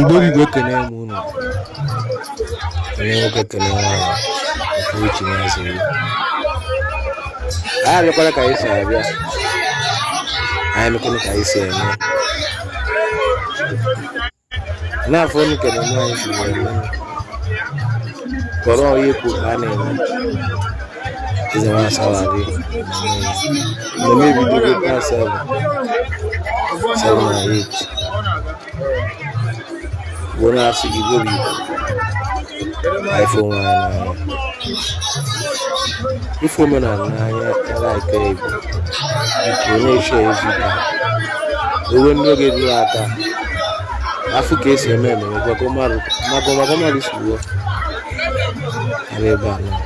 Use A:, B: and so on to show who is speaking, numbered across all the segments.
A: Ndị Igbo ekene m unu onye nwoke ekene nwaanyị nke uche na-azụ ya anyị abịakwala ka anyị si abịa anyị mekwala ka anyị si eme n'afọ unu kene nwaanyị si eme kọrọ onye kwuru ka a na-eme Eze nwa asawa adị. Na-eme video na seven. Seven na eight. Igbo na-asụ Igbo bụ Igbo. Ife onwe anyị n'anya. Ị fụ omenala n'anya like Igbo. Igbo na-share video. Ewe ndị oge dị aka. Afụ ka esi eme ememe gwakọ mmadụ. Maka ọmaka mmadụ si wuo. Ara ebe a na.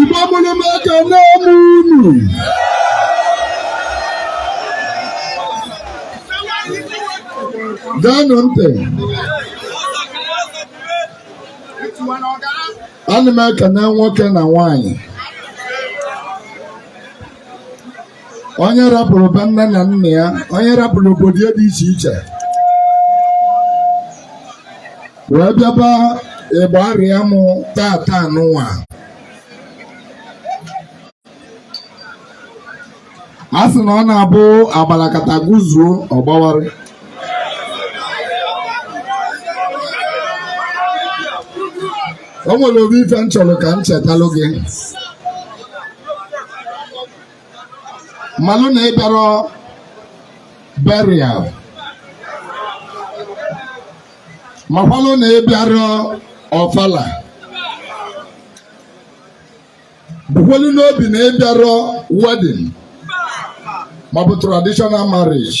B: Igbo mụrụ m ekene m unu gaanụ ntị ana m ekene nwoke na nwanyị onye rapụrụ be nne na nna ya onye rapụrụ obodo ya dị iche iche wee bịaba ịgba arịa mụ tata n'ụwa a sị na ọ na-abụ agbalakata guzuo ọgbawarị o nwere obi ife m chọrọ ka m chetalụ gị malụ na ịbịarọ burial makwalụ na ịbịarọ ọfala bukwelu n'obi na ịbịarọ wedding maọbụ traditional marriage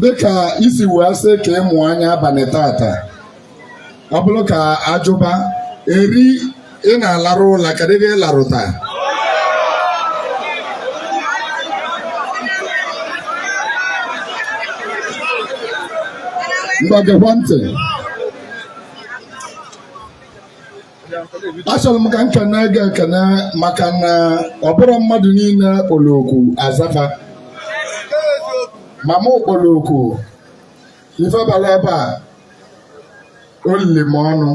B: dịka i si wee sị ka ịmụ anya abalị tata ọ bụrụ ka ajụba eri ị na-alarụ ụla kedụ ife ị larụta ngwa gekwa ntị achọrọ m ka m kene gị ekene maka na ọ bụrụ mmadụ niile kpọrọ oku aza fa ma mụ kpọrọ oku ife bara ebe a olili m ọnụ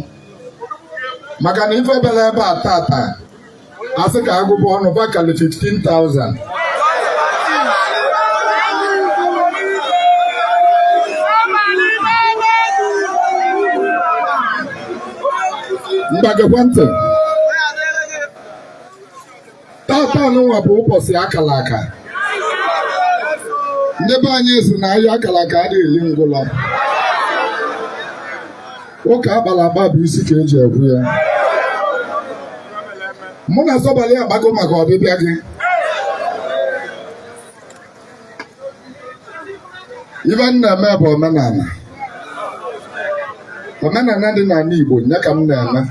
B: maka na ife bara ebe a tata a sị ka a gụba ọnụ fa kalị 15,000 ngwa gekwa ntị tata nwa bụ ụbọchị akara aka ndị be anyị sị na agha akara aka adịghị eli ngwụlọ ụka akpara akpa bụ isi ka e ji ekwe ya mụ na Osebuluwa akpago maka ọbịbịa gị ife m na-eme bụ omenala omenala dị n'ala Igbo ya ka m na-eme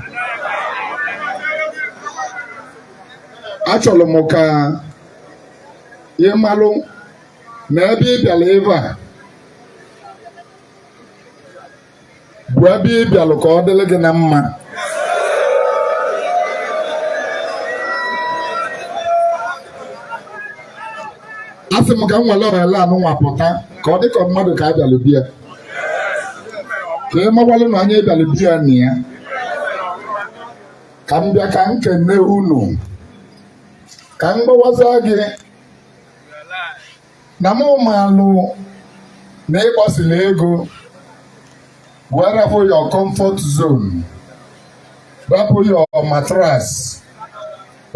B: achọrọ m ka ị malụ na ebe ị bịara ebe a bụ ebe ị bịalụ ka ọ dịrị gị na mma a sị m ka m were ohere anụnwa pụta ka ọ dị ka mmadụ ka a bịalụ be ya ka ị mawalụ na onye bịalụ be ya nọ ya ka m bịa ka m kene unu ka m gwawazị gị na m malụ na ị gbasịla ego wee rapụ your comfort zone rapụ your mattress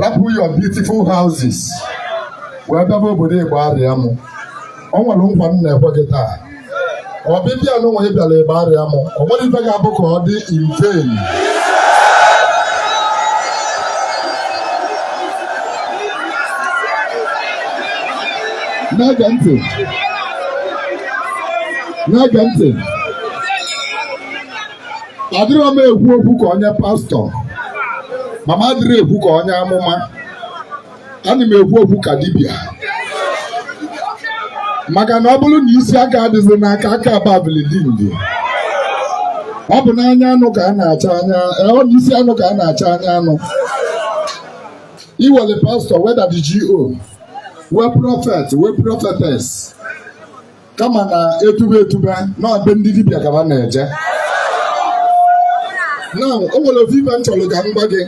B: rapụ your beautiful houses wee bịaba obodo Igbariam o nwere nkwa m na-ekwe gị taa ọbịbịa nụwa ị bịara Igbariam o nwerọ ife ga-abụ ka ọ dị in vain na-ege ntị na-ege ntị adịrọ m ekwu okwu ka onye pastọ ma m adịrọ ekwu ka onye amụma ana m ekwu okwu ka dibịa maka na ọ bụrụ na isi aka adịzi n'aka aka ababilidindi ọ bụ n'anya anụ ka a na-achọ anya eh, ọ bụ isi anụ ka a na-achọ anya anụ i were pastọ were GO wee prọfet wee prọfetes kama na etube etube na be ndị dibịa ka ha na-eje na o nwere ofu ife m chọrọ ka m gwa gị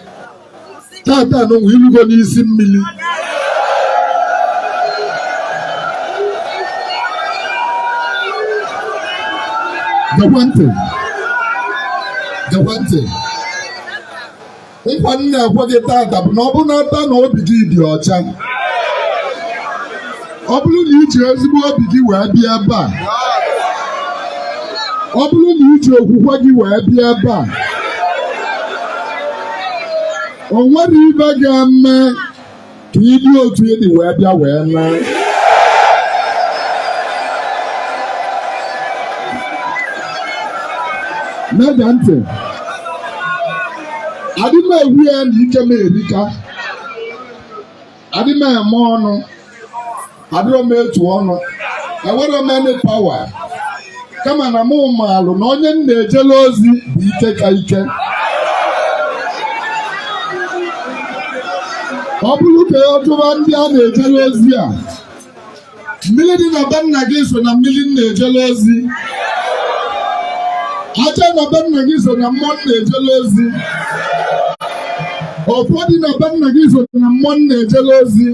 B: tata nwa i lugo n'isi mmiri gewa ntị. Gewa ntị. nkwa m na-ekwe gị tata bụ na ọ bụrụ na aka na obi gị dị ọcha ọ bụrụ na iji ezigbo obi gị wee bịa ebe a ọ bụrụ na iji okwukwe gị wee bịa ebe a o nwere ife ga-eme ka ịdị otu ịdị wee bịa wee naa na-ege ntị adị m ekwu ya na ike m erika adị m eme ọnụ adịrọ m etu ọnụ enwerọ m any power kama na mụ maalụ na onye m na-ejele ozi bụ ike ka ike ọ bụrụ ka ọ jụwa ndị a na-ejele ozi a mmiri dị na be nna gị so na mmiri m na-ejele ozi aja na be nna gị so na mmụọ m na-ejele ozi ọfọ dị na be nna gị so na mmụọ m na-ejele ozi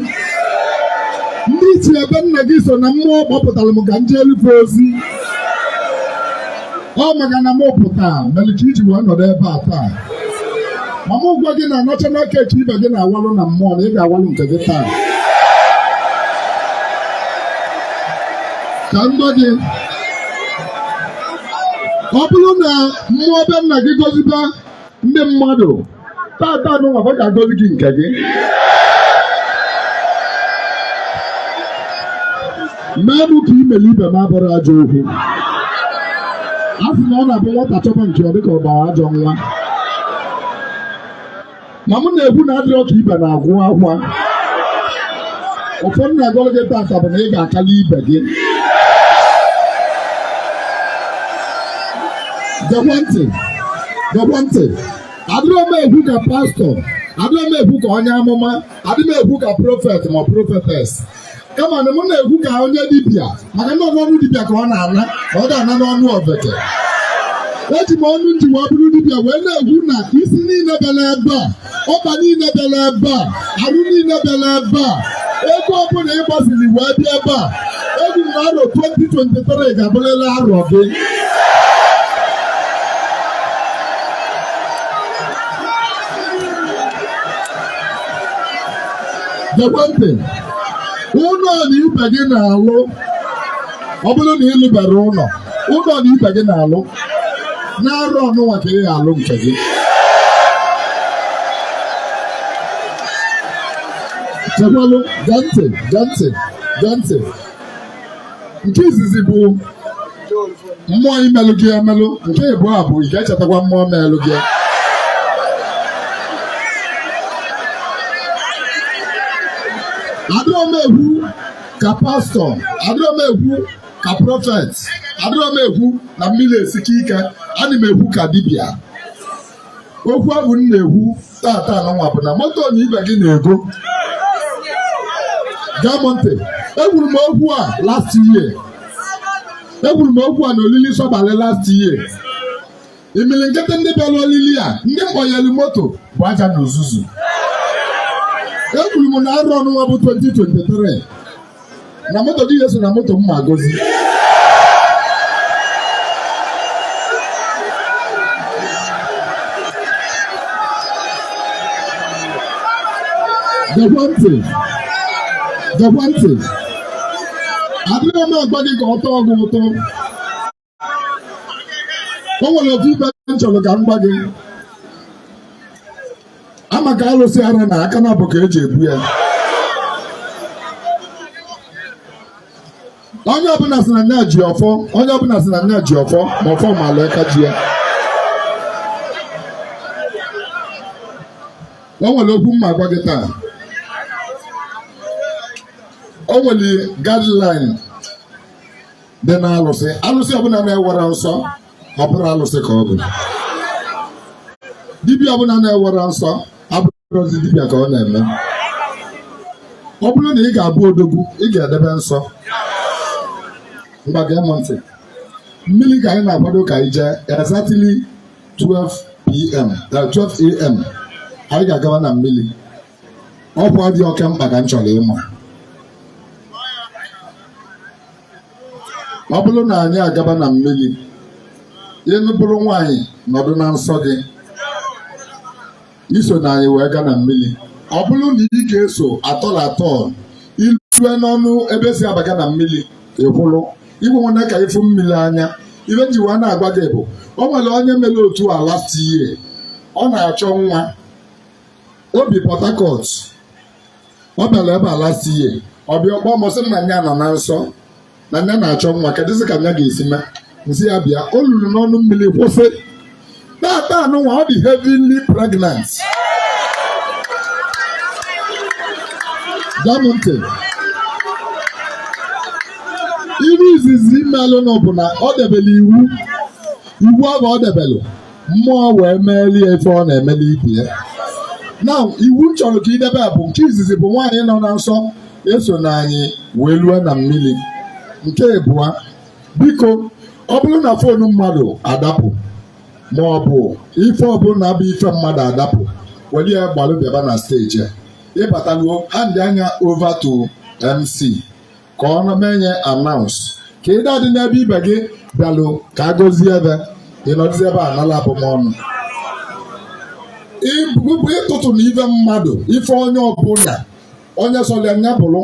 B: ndị ichie be nna gị so na mmụọ kpọpụtara m ka m jeelu fa ozi ọ maka na m pụta mere ka iji wee nọdụ ebe a taa ma m gwa gị na national cake ibe gị na-awalụ na mmụọ na ị ga-awalụ nke gị taa ka m gwa gị ọ bụrụ na mmụọ be nna gị goziba ndị mmadụ tata n'ụwa ọ ga-agọzi gị nke gị mmadụ ka imeli ibe m abụrọ ajọ okwu a sị na ọ na-abụ nwata chọba nke ọ dịka ọ gbara ajọ nwa ma mụ na-ekwu na adịrọ ka ibe na-agwụ akwa ọfọ m na-agọrọ gị tata bụ na ị ga-akalị ibe gị gekwa ntị gekwa ntị adịrọ m ekwu ka pastọ adịrọ m ekwu ka onye amụma adị m ekwu ka prọfet ma prọfetes kama na mụ na-ekwu ka onye dibịa maka na ọ bụ ọnụ dibịa ka ọ na-ana ọ ga-ana n'ọnụ ofeke eji m ọnụ m ji wee bụrụ dibịa wee na-ekwu na isi niile bịara ebe a ọkpa niile bịara ebe a arụ niile bịara ebe a ego ọbụla ị gbaziri wee bịa ebe a ekwu na arọ 2023 ga-abụrịrị arọ gị gekwa ntị ụnọ na ibe gị na-alụ ọ bụrụ na ịlụberọ ụnọ ụnọ na ibe gị na-alụ na arọ ọnụnwa ka ị ga-alụ nke gị chekwalụ gee ntị gee ntị gee ntị nke izizi bụ mmụọ imelụ gị emelụ nke ịbụa bụ ị ga-echetakwa mmụọ melụ gị adịrọ m ekwu ka pastọ adịrọ m ekwu ka prọfet adịrọ m ekwu na mmiri esike ike ana m ekwu ka dibịa okwu abụ m na-ekwu tata nụnwa bụ na moto na ibe gị na-ego gee m ntị ekwuru m okwu a last year ekwuru m okwu a na olili sọbalị last year imilikiti ndị bịara olili a ndị m kpọnyere moto bụ aja na uzuzu ekwuru m na arọ ọnụnwa bụ 2023 na moto gị ya-eso na moto m ma-agọzi gekwa ntị gekwa ntị adịghị m agwa gị ka ọ tọọ gị ụtọ o nwere otu ibe m chọrọ ka m gwa gị ama ka alụsị ara na aka naabọ ka eji ebu ya onye ọbụla sị na nya ji ọfọ onye ọbụla sị na nya ji ọfọ ma ọfọ malụ aka ji ya o nwere okwu m ma-agwa gị taa o nwere guideline dị na alụsị alụsị ọbụla na-enwerọ nsọ ọ bụrọ alụsị ka ọ bụ dibịa ọbụla na-enwerọ nsọ abụrọzi dibịa ka ọ na-eme ọ bụrụ na ị ga-abụ odogwu ị ga-edebe nsọ ngwa gee m ntị mmiri ka anyị na-akwado ka anyị jee exactly 12 pm 12 am anyị ga-agawa na mmiri ọkwa dị oke mkpa ka m chọrọ ịma ọ bụrụ na anyị agaba na mmiri ị bụrụ nwaanyị nọdụ na nsọ gị isona anyị wee gaa na mmiri ọ bụrụ na ị ga-eso at all at all i lue n'ọnụ ebe esi abaga na mmiri ịkwụrụ igwe nwanne ka ịfụ mmiri anya ibe ji wee na-agwa gị bụ o nwere onye mere otu a last year ọ na-achọ nwa o bi Port Harcourt ọ bịara ebe a last year ọ bịa ọ kpọọ m sị na nya nọ na nsọ na nya na-achọ nwa kedụzi ka nya ga-esi mee m sị ya bịa o luru n'ọnụ mmiri kwụsị tata nụnwa ọ dị heavily pregnant gee m ntị ife izizi melụnụ bụ na o debere iwu iwu ahụ o debelu mmụọ wee meeli ya ife ọ na-emeli ibe ya now iwu m chọrọ ka i debe a bụ nke izizi bụ nwaanyị nọ na nsọ esona anyị wee lue na mmiri nke ịbụa biko ọ bụrụ na fonu mmadụ adapụ ma ọ bụ ife ọbụla bụ ife mmadụ adapụ were ya gbalụ bịaba na steji a. ị bataluo handịa nya over to mc ka ọ na-eme nya announce ka ị da-adị n'ebe ibe gị bịalụ ka a gọzie be ị nọdụzi ebe a nala abụmọnụ ị tụtụna ife mmadụ ife onye ọbụla onye sọlị ya nya bụrụ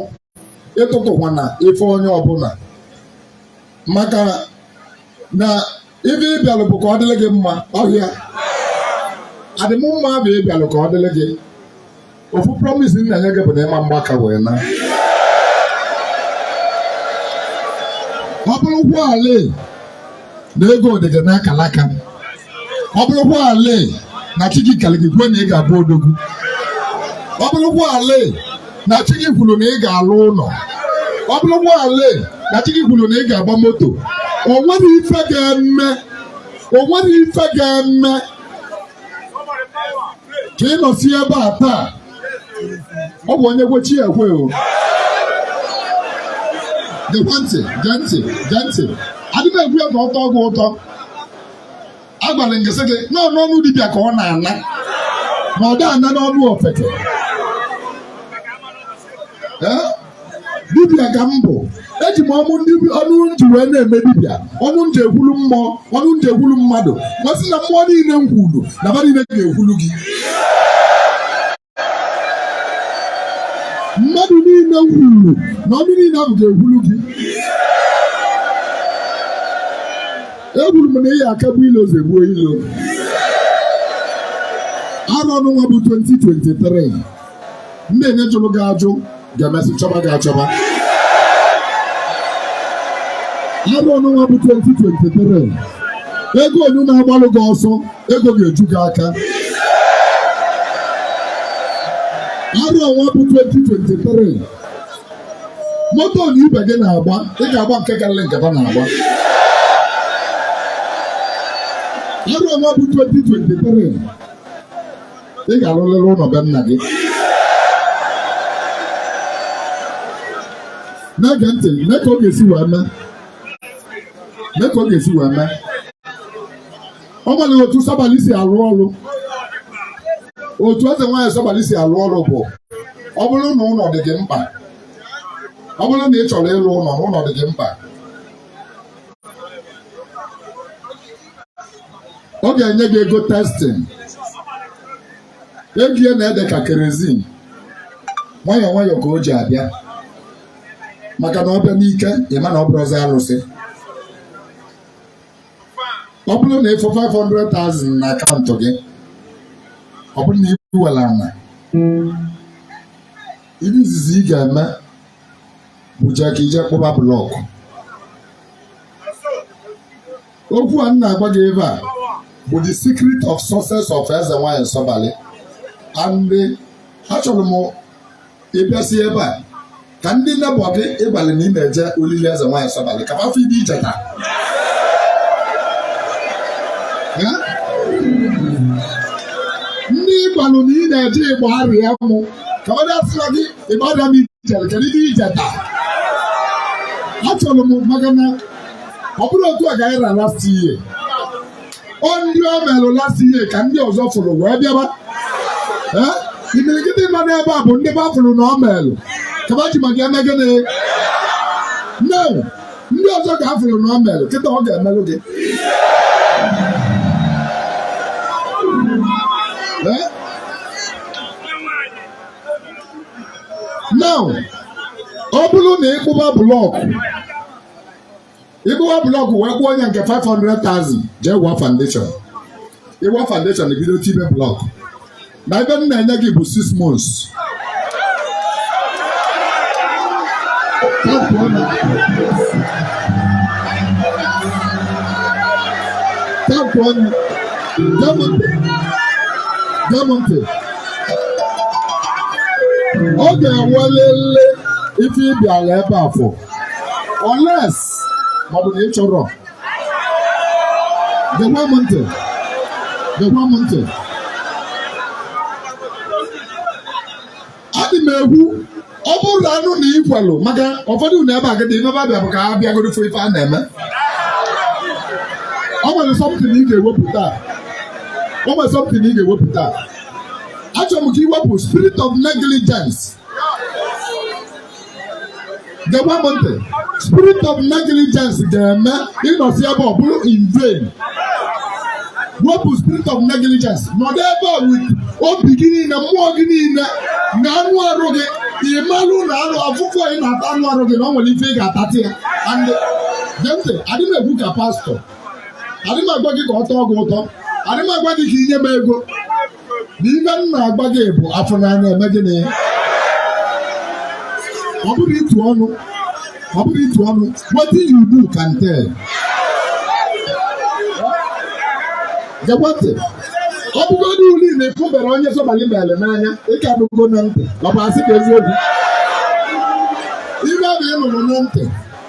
B: ị tụtụkwana ife onye ọbụla maka na ife ị bịalụ bụ ka ọ dịrị gị mma ọ ya-adị m mma bụ ị bịalụ ka ọ dịrị gị ofu promise m na-enye gị bụ na ị ma-agba aka wee naa ọ bụrụkwalị na ego dị gị na akalaka ọ bụrụkwalị na chi gị kalị gị kwuo na ị ga-abụ odogwu ọ bụrụkwalị na chi gị kwuru na ị ga-alụ ụlọ ọ bụrụkwalị na chi gị kwuru na ị ga-agba moto o nwere ife ga-eme ka ị nọsi ebe a taa ọ bụ onye kwe chi ekwe o gekwe ntị gee ntị gee ntị adịghị m ekwu ya ka ọ tọọ gị ụtọ agwara m gị sị gị na ọ n'ọnụ dibịa ka ọ na-ana na ọ da-ana n'ọnụ ofeke Ee? dibịa ka m bụ eji m ọnụ ọnụ m ji wee na-eme dibịa ọnụ m ji ekwulu mmụọ ọnụ m ji ekwulu mmadụ m asị na mmụọ niile m kwulu na ba niile ga-ekwulu gị mmadụ niile m kwuru na ọnụ niile ahụ ga-ekwuru gị ekwuru m na ị ya-akagbu ilo zọgbuo ilo arọ nụnwa bụ 2023 ndị nine jụrụ gị ajụ ga-emesị chọba gị achọba arọ nụnwa bụ 2023 ego nine na-agbalụ gị ọsọ ego ga-eju gị aka arọ nwa bụ 2023 moto na ibe gị na-agba ị ga-agba nke karịrị nke ha na-agba arọ nwa bụ 2023 ị ga-arụrịrị ụnọ be nna gị na-ege ntị mee ka ọ ga-esi wee mee o nwere otu sabali si arụ ọrụ otu eze nwaanyị sabali si arụ ọrụ bụ ọ bụrụ na ụnọ dị gị mkpa ọ bụrụ na ị chọrọ ịrụ ụnọ na ụnọ dị gị mkpa ọ ga-enye gị ego testing ego ya na-ede ka kerozin nwayọọ nwayọọ ka o ji abịa maka na ọ bịa n'ike ị ma na ọ bụrụzị alụsị ọ bụrụ na ị fụ 500,000 na akaụntụ gị ọ bụrụ na i bu nwere ana ife izizi ị ga-eme bụ jee ka i jee kpụba blọkụ okwu a m na-agwa gị ebe a bụ the secret of success of eze nwaanyị sabali and achọrọ m ị bịasịa ebe a ka ndị nebọ gị ị gwalụ na ị na-eje olili eze nwaanyị sabali ka a fụ ife i jeta Ya? ndị ị gwalụ na ị na-eje ịgba arịa mụ ka ọ dịasịla gị ịgba arịa m i jere kedu ife i jeta achọrọ m maka na ọ bụrọ otu a ka anyị ra last year ọ ndị o melụ last year ka ndị ọzọ fụrụ wee bịaba Eh? imirikiti nọ n'ebe a bụ ndị fa fụrụ na o melụ ka fa ji maka eme gịnị no ndị ọzọ ka a fụrụ na o melụ kịta ọ ga-emelụ gị Eh? now ọ bụrụ na ị kpụba blọkụ ị kpụba blọkụ wee kwụọ onye nke 500,000 jee wụọ foundation ị wụọ foundation i bido tibe blọkụ na ebe m na-enye gị bụ 6 months tapụ ọnụ gee mụ ntị ọ ga-enwelịlị ife ị bịalụ ebe a fụ unless maọbụ na ị chọrọ gekwa m ntị gekwa m ntị adị m egwu ọ bụrụ na anụ na i kwelụ maka ụfọdụ na ebe agadi ebe abịa bụ ka ha bịagoro fụ ife a na-eme o nwere something ị ga-ewepụta o nwere something ị ga-ewepụta achọrọ m ka i wepụ spirit of negligence gekwa m ntị spirit of negligence ga-eme ị nọsịa ebe a ọ bụrụ in vain wepụ spirit of negligence nọdụ ebe a with obi gị niile mmụọ gị niile na anụ arụ gị ị malụ na anụ afụfụ ị na-ata anụ arụ gị na ọ nwere ife ị ga-atata ya and gee ntị adị m ekwu ka pastọ adị m agwa gị ka ọ tọọ gị ụtọ adị m agwa gị ka i nye m ego na ife m na-agwa gị bụ a fụ n'anya e mee gịnị ọ bụrụ ịtụ ọnụ ọ bụrụ ịtụ ọnụ wetin you do can tell gekwa ntị ọ bụgodu uli na ị fụbero onye sọbalị mere n'anya ị ka anụgo na ntị ọ bụ asị ka eziokwu ife a na-anụrụ na ntị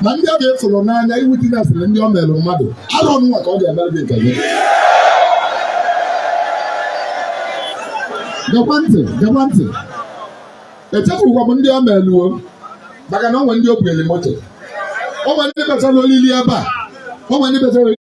B: na ndị ọ ga-afụrụ n'anya iwu dị na-efere ndị ọ mere mmadụ arọ nwa ka ọ ga-emere gị nke gị gekwa ntị gekwa ntị echefukwa m ndị ọ meluo maka na o nwee ndị o bunyere moto o nwee ndị bịara olili ebe a o nwee ndị kpatara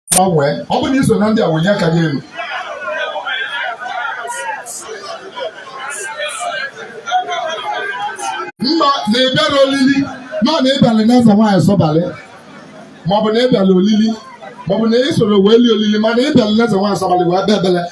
B: gbanwee ọ bụrụ na i so na ndị a wenie aka gị elu ma na ị bịara olili ma na ị bịala na eze nwaanyị sọbalị maọbụ na ị bịala olili maọbụ na ị soro wee lie olili ma na ị bịala na eze nwaanyị sọbalị wee bịa ebele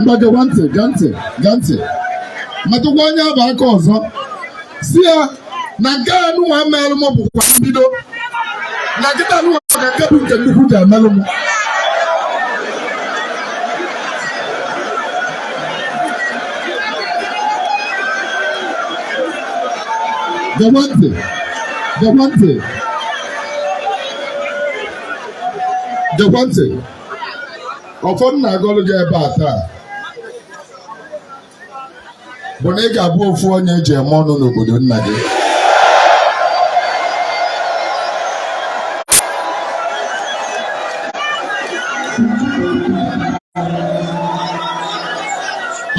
B: ngwa gekwa ntị gee ntị gee ntị metụkwa onye afụ aka ọzọ sị ya na nke a nụnwa melụ m bụkwa mbido na kịta nụnwa ka nke bụ nke nnukwu ga-emelụ m gekwa ntị gekwa ntị gekwa ntị ọfọ m na-agọlụ gị ebe a taa bụ na ị ga-abụ ofu onye eji eme ọnụ n'obodo nna gị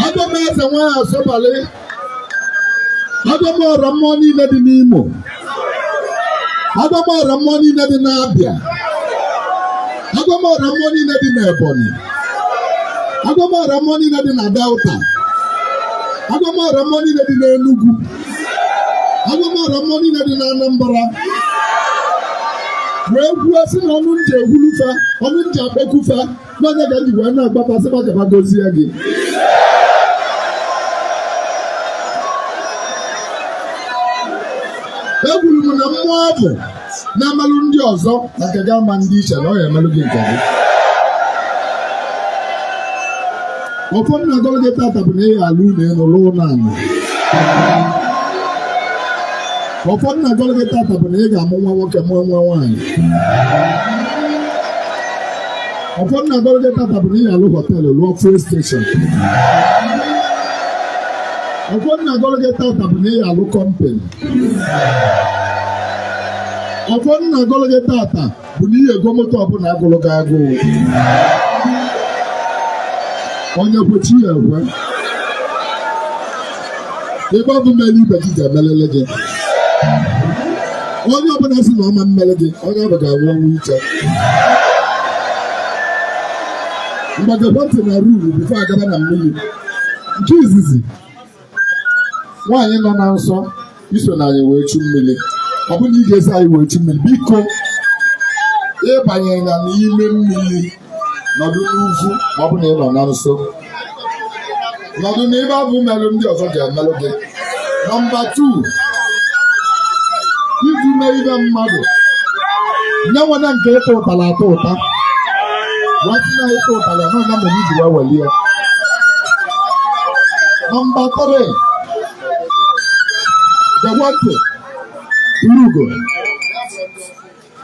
B: agọọ m eze nwaanyị sọbalị agọọ m ọra mmụọ niile dị n'Imo agọọ m ọra mmụọ niile dị n'Abịa agọọ m ọra mmụọ niile dị n'Ebonyi agọọ m ọra mmụọ niile dị na Delta agọọ m ọra mmụọ niile dị n'Enugu agọọ m ọra mmụọ niile dị n'Anambra wee kwuo sị na ọnụ m ji ekwulu fa ọnụ m ji akpọku fa n'onye ka njikwa wee na-agbata sịkwa ka gozie gị ekwuru m na mmụọ ahụ na-amalụ ndị ọzọ na nke gị ama ndị iche na ọ ya emelụ gị nke gị ọfọ m na-agọrọ gị tata bụ na ị ya-alụ ụnọ enu lụọ ụnọ anị ọfọ m na-agọrọ gị tata bụ na ị ga-amụ nwa nwoke mụọ nwa nwaanyị ọfọ m na-agọrọ gị tata bụ na ị ya-alụ hotel lụọ fuel station ọfọ m na-agọrọ gị tata bụ na ị ya-alụ company ọfọ m na-agọrọ gị tata bụ na ị ya-ego moto ọbụla gụrụ gị agụụ onye kwe chi ya ekwe ihe ahụ melụ ibe gị ga-emelele gị onye ọbụla sị na ọ ma emere gị onye ahụ ga-anwụ ọnwụ ike ngwa gekwa ntị na rule before agaba na mmiri nke izizi nwaanyị nọ na nsọ isona anyị wee chu mmiri ọ bụrụ na ị ga-eso anyị wee chu mmiri biko ịbanyena n'ime mmiri nọdụ n'ugwu ma ọ bụ na ị nọ na nsọ nọdụ na ihe ahụ melụ ndị ọzọ ga-emelụ gị number two iji mee ihe mmadụ nye nwena nke ịta ụtara atọ ụta wetị na ịta ụtara nọ na mere iji wee welie number three gekwa ntị o rugo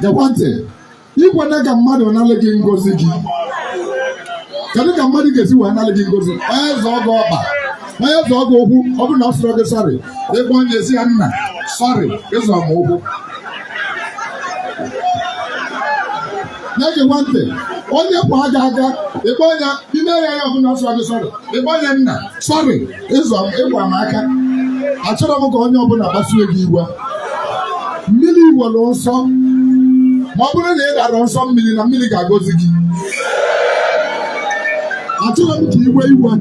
B: gekwa ntị ikwena ka mmadụ nalị gị ngozi gị kedu ka mmadụ ga-esi wee nalị gị ngozi onye zọọ gị ọkpa onye zọọ gị ụkwụ ọ bụrụ na ọ sịrọ gị sorry ịkpọ onye ahụ sị ya nna sorry ịzọ m ụkwụ na-egekwa ntị onye kwaa gị aka ịkpọ ya ime ya ọ bụrụ na ọ sịrọ gị sorry ịkpọ ya nna sorry ịzọ ịkwa m aka achọrọ m ka onye ọbụla kpasuo gị iwe mmiri nwere nsọ ma ọ bụrụ na ị darọ nsọ mmiri na mmiri ga-agọzi gị achọrọ m ka i wee iwe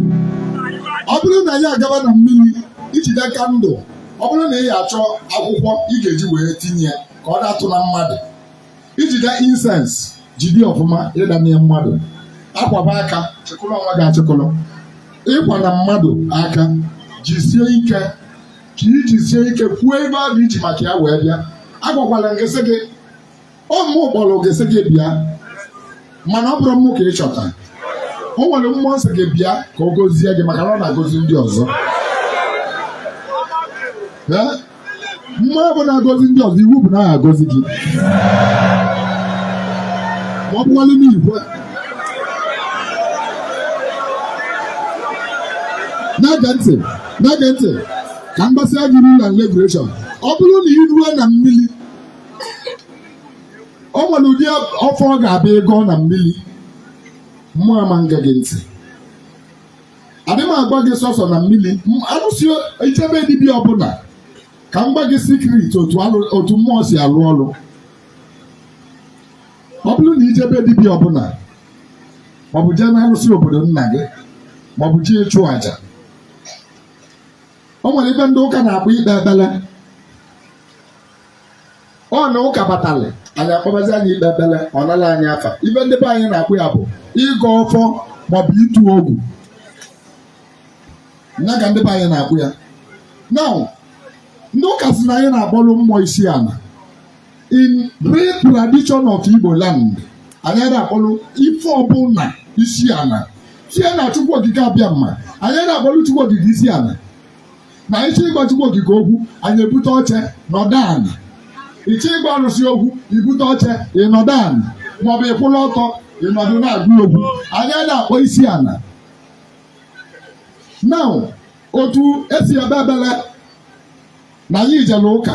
B: ọ bụrụ na anyị agaba na mmiri ijide candle ọ bụrụ na ị ya achọ akwụkwọ ị ga-eji wee tinye ya ka ọ datụna mmadụ ijide incense jide ọfụma ịdanye mmadụ akwaba aka chịkọlọ onwe gị achịkọlọ ịkwana mmadụ aka jisie ike ka ijisie ike kwuo ihe ahụ iji maka ya wee bịa agwakwala m gị sị gị ọ mụ kpọrọ gị sị gị bịa mana ọ bụrụ mmụọ ka ị chọta o nwere mmụọ m sị gị bịa ka ọ gọzie gị maka na ọ na-agọzi ndị ọzọ Ee? mmụọ ọ bụla na-agọzi ndị ọzọ iwu bụ na ọ ya-agọzi gị ma ọ bụkwalụ n'igwe na-ege ntị na-ege ntị ka m gwasịa gị rule and regulation ọ bụrụ na ị ruo na mmiri o nwere ụdị ọfọ ị ga-abịa ịgọ na mmiri mmụọ ama ṅa gị ntị adị m agwa gị sọsọ na mmiri m- alụsị i jee be dibịa ọbụla ka m gwa gị secret otu alụ- otu mmụọ si alụ ọrụ ọ bụrụ na i jee be dibịa ọbụla maọbụ jee na alụsị obodo nna gị maọbụ jee ịchụ àjà o nwere ife ndị ụka na-akpọ ikpe ekpere ọ na ụka batalị anyị akpọbazi anyị ikpe ekpere ọ nala anyị afa ife ndị be anyị na-akpọ ya bụ ịgọ ọfọ maọbụ itu ogu ya ka ndị be anyị na-akpọ ya now ndị ụka sị na anyị na-akpọrọ mmụọ isi ala in real tradition of Igbo land anyị ada akpọrọ ife ọbụla isi ala tie na Chukwu Okike Abịama anyị ada akpọrọ Chukwu Okike isi ala anyị chọọ ịgwa Chukwu okike okwu anyị ebute oche nọdụ ala ị chọọ ịgwa arụsị okwu i bute oche ị nọdụ ala maọbụ ị kwụlụ ọtọ ị nọdụ na-agwa ya okwu anyị ada akpọ isi ala now otu esi ekpe ekpele na anyị ijele ụka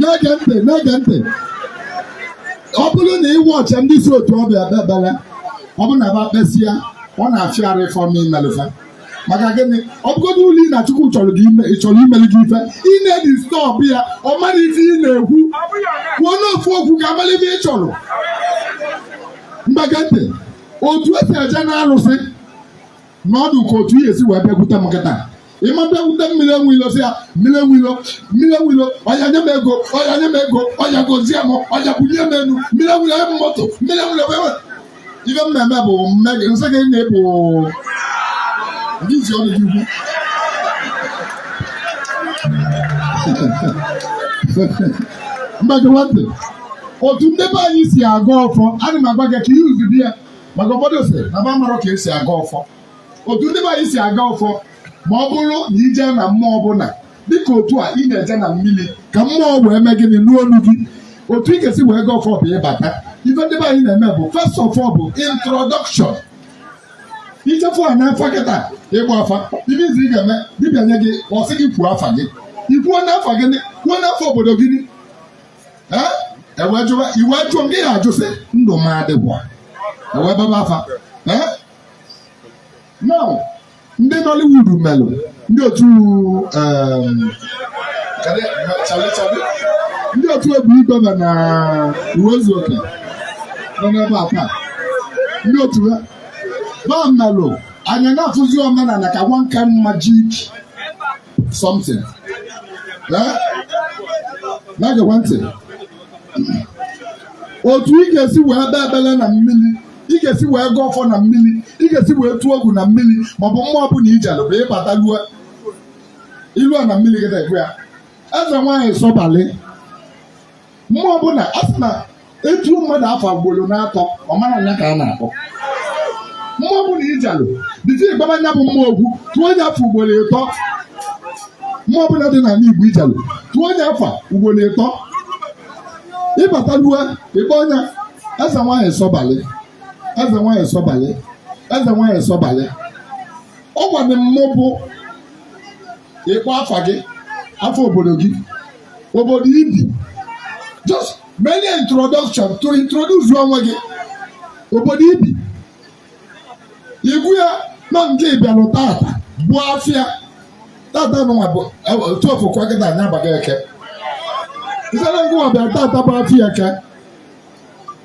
B: na-ege ntị na-ege ntị ọ bụrụ na ị watchie ndị si otu ọ bịa ikpe ekpere ọ bụrụ na ba kpesịa ọ na-afịa arụ for mmụọ imelụ fa maka gịnị ọ bụgodụlụ na Chukwu chọrọ gị ime chọrọ imeli gị ife ị na-edisturb ya ọ marọ ife ị na-ekwu kwuonụ ofu okwu ka a mara ife ị chọrọ ngwa gee ntị otu esi eje na alụsị now dịka otu ị ya-esi wee bịakwute m kịta ị ma bịakwute mmiri enwe ilo sị ya mmiri enwe ilo mmiri enwe ilo ọya nye m ego ọya nye m ego ọya gozie m ọya bunie m enu mmiri enwe ilo nye m moto mmiri enwe ilo wee wee ife m na-eme bụ mme gị m sị gị na ị bụ ndị isi ọnụ gị ukwu ngwa gee ntị otu ndị be anyị si agọ ọfọ ana m agwa gị ka ihe uzubi ya maka ụfọdụ sị na ba marọ ka esi agọ ọfọ otu ndị be anyị si agọ ọfọ ma ọ bụrụ na ije na mmụọ ọbụla dịka otu a ị na-eje na mmiri ka mmụọ wee mee gịnị nụ olu gị otu ị ga-esi wee gọọ ọfọ bụ ịbata ife ndị be anyị na-eme bụ first of all bụ introduction ichefu a n'afọ kịta ịgba afa ibe izi ị ga-eme dibịa nye gị ọ sị gị kwuo afa gị ikwuo afa gị kwuo afa obodo gị ewee jụwa iwe jụọ gị ya ajụsị ndụ m adịgwa ewee baba afa now ndị Nollywood melụ ndị otu um, ndị otu obi igwe na Uwaezuoke nọ n'ebe a taa ndị otu ha ba melụ anyị na-afụzi omenala ka one kind magic something eh? na-egekwa ntị otu ị ga-esi wee bee ebele na mmiri ị ga-esi wee gọọ ọfọ na mmiri ị ga-esi wee tụọ ogu na mmiri maọbụ mmụọ ọbụla ijelụ bụ ịbata lue ilu a na mmiri gị na-ekwe ya eze nwaanyị sọbalị mmụọ ọbụla a sị na etuo mmadụ afa ugboro na-atọ ọ mara na nya ka a na-akpọ mmụọ ọbụla ijelụ dịka ịbaba nya bụ mmụọ agwụ tuo nya afa ugboro ịtọ mmụọ ọbụla dị n'ala Igbo ijelụ tuo nya afa ugboro ịtọ ịbata lue ịkpọ nya eze nwaanyị sọbalị eze nwaanyị sọbalị eze nwaanyị sọbalị ọ gwanị m bụ ịkpọ afa gị afa obodo gị obodo ibi just minor introduction to introduce onwe gị obodo ibi ịgwa ya na ngị bịalụ tata bụ afịa tata nwa bụ otu ofụkwa gị na anya abaghị eke nsere ngụ nwa bịara tata bụ afịa eke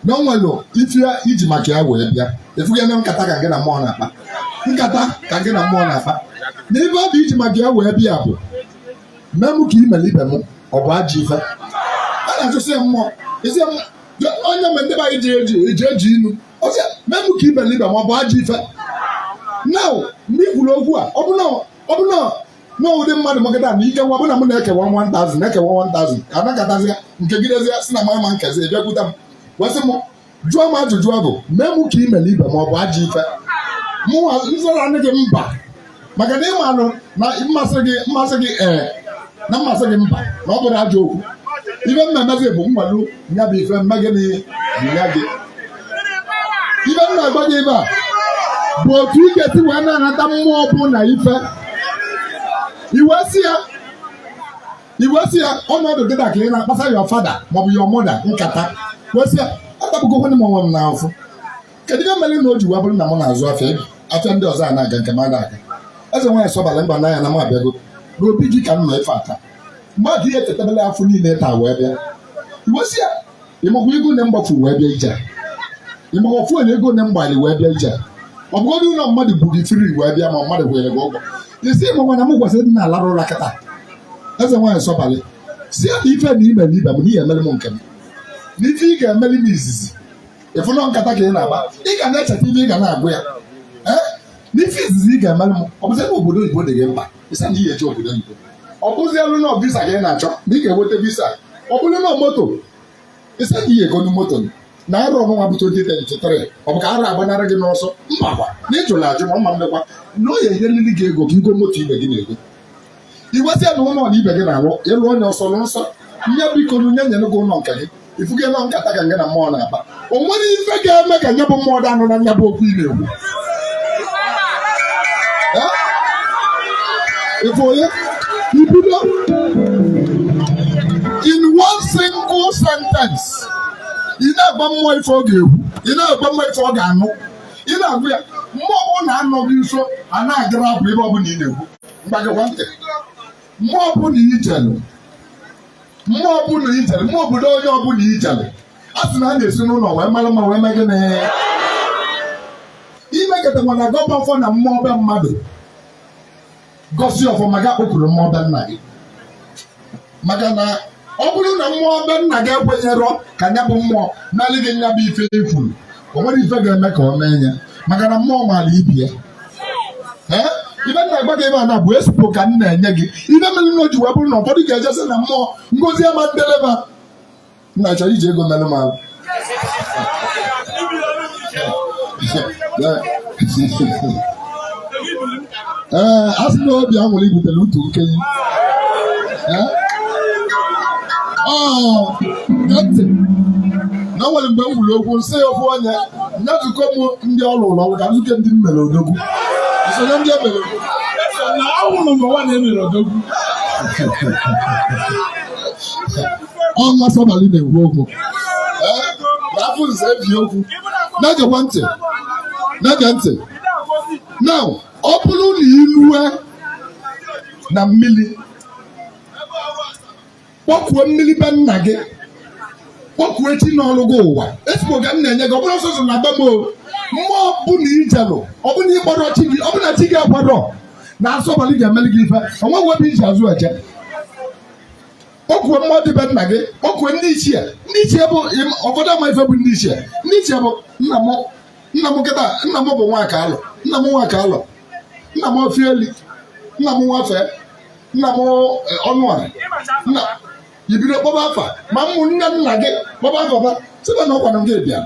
B: na o nwere ife iji maka ya wee bịa efughị na nkata ka gị na mmụọ na-akpa nkata ka gị na mmụọ na-akpa na ife ọ bụ iji maka ya wee bịa bụ mee mụ ka i mere ibe m ọ bụ ajọ ife a na-achụsị ya mmụọ isi ya mmụọ. onye mgbe ndị be anyị ji eji eji eji inu ọ sị mee mụ ka imere ibe m ọ bụ ajọ ife na mgbe i kwuru okwu a ọ bụ na ọ bụ na na ụdị mmadụ magada na ike nwa bụ na mụ na-ekewa 1000 na-ekewa 1000 ka anakọtazi ya nke gị dezie sị na mama nkezi bịakwute m wee sị m jụọ m ajụjụ ọ bụ mee mụ ka imere ibe m ọ bụ ajọ ife mụ nzara nne gị mba maka na ịmalụ na mmasị gị mmasị gị ee eh, na mmasị gị mba na ọ bụrọ ajọ okwu ife m na-emezi bụ m malụ nya bụ ife m mee gịnị nye gị ife m na-agwa gị ebe a bụ otu ị ga-esi wee na-anata mmụọ ọbụna ife i wee sị ya i wee sị ya ọnọdụ dị ka ị na-akpasa your father maọbụ your mother nkata wee sị ya atagbugokwana m onwe m n'afụ kedu ihe mere na o ji wee bụrụ na m na-azụ afịa afịa ndị ọzọ a na-aga nke m aga aga eze nwaanyị sọbalị mba n'anya na m abịago n'obi gị ka m nọ ife ata mgbe adị ihe etetabela afọ niile taa wee bịa i wee sị ya ịmakwa ego na mgbafu wee bịa ije ịmakwa ofu onye ego na mgbali wee bịa ije ọ bụgodị ụlọ mmadụ bu gị firi wee bịa ma mmadụ kwere gị ụgwọ isi ịmakwa na m gwasịrị dị na-alarụ ụra kịta eze nwaanyị sọbalị sị ya na ife na ime na ibe m na ị ya-emere m nke m na ife ị ga-emere m izizi ị fụ nọ nkata ka ị na-akpa ị ga na-echeta ife ị ga na-agwa ya ee n'ife izizi ị ga-emere m ọ bụzi ebe obodo oyibo dị gị mkpa ị sị na ị ya-eje obodo oyibo ọ bụzịrị na visa ka ị na-achọ na ị ga-enweta visa ọ bụrụ na moto ị sị na ị ya-egonu moto n'arọ nunwa bụ 2023 ọ bụ ka arọ agbanara gị n'ọsọ m makwa na ị jụrụ ajụ ma mma mmekwa na ọ ya-enyeriri gị ego ka i goo moto ibe gị na-ego i wee sị ya na ụlọ na ibe gị na-alụ ịlụ onye ọsọ lụ nsọ ihe biko nya nyere gị ụlọ nke gị ị fụgo nọ nkata ka ngị na mmụọ na-akpa o nwerọ ife ga-eme ka nya bụ mmụọ dị anụ na nya bụ okwu ị na-ekwu ịbụ onye ibido in one single sentence ị na-agwa mmụọ ife ọ ga-ekwu ị na-agwa mmụọ ife ọ ga-anụ ị na-agwa ya mmụọ ọbụla na-anọ gị nso a na-agara abụ ife ọbụla ị na-ekwu ngwa gekwa ntị mmụọ ọbụla i jelu mmụọ ọbụla i jelu mmụọ obodo onye ọbụla i jelu a sị na a na-esi n'ụlọ wee mara mma wee mee gịnị i mekatakwa na-agọba ọfọ na mmụọ be mmadụ gọsị ọfọ ma ga kpọkuru mmụọ be nna gị maka na ọ bụrụ na mmụọ be nna gị ekwenyerọ ka ya bụ mmụọ nyelị gị nya bụ ife i kwuru o nwerọ ife ga-eme ka ọ mee ya maka na mmụọ maara ibe ya ee ife m na-agwa gị ebe a na bụ expo ka m na-enye gị ife mere na o ji wee bụrụ na ụfọdụ ga-ejesi na mmụọ ngozi ama ndeleba nna chọrọ iji ego mere m ala ee a sị na obi a nwere ibutere utu nkenye Ee? Ọ, gee ntị. na o nwere mgbe m kwuru okwu m sị ya okwu onye nyezukwa m ndị ọrụ ụlọ ọrụ ka nzukọ ndị m mere odogwu nsonye ndị e mere na awụrụ mgbe nwa na-emere odogwu ọnwa sọbalị na-ekwu okwu afọ nze ebi okwu na-egekwa ntị na-ege ntị na ọ bụrụ na i lue na mmiri kpọkuo mmiri be nna gị kpọkuo chi nọrụ gị ụwa expo ka m na-enye gị ọ bụrọ sọsọ na be m o mmụọ ọbụla i jelu ọ bụ na ị kpọrọ chi gị ọ bụ na chi gị akwadorọ na sọbalị ga-emeli gị ife o nweghị ebe i ji azụ eje kpọkuo mmụọ dị be nna gị kpọkuo ndị ichie ndị ichie bụ ụfọdụ ama ife bụ ndị ichie ndị ichie bụ nna m nna m nkịta nna m bụ Nwakalọ nna m Nwakalọ nna m Ofieli nna m nwafee nna m Ọnụọra nna ibido kpọba afa ma ụmụnne nna gị kpọba afa ba sịba na ọkwanụ gị bịa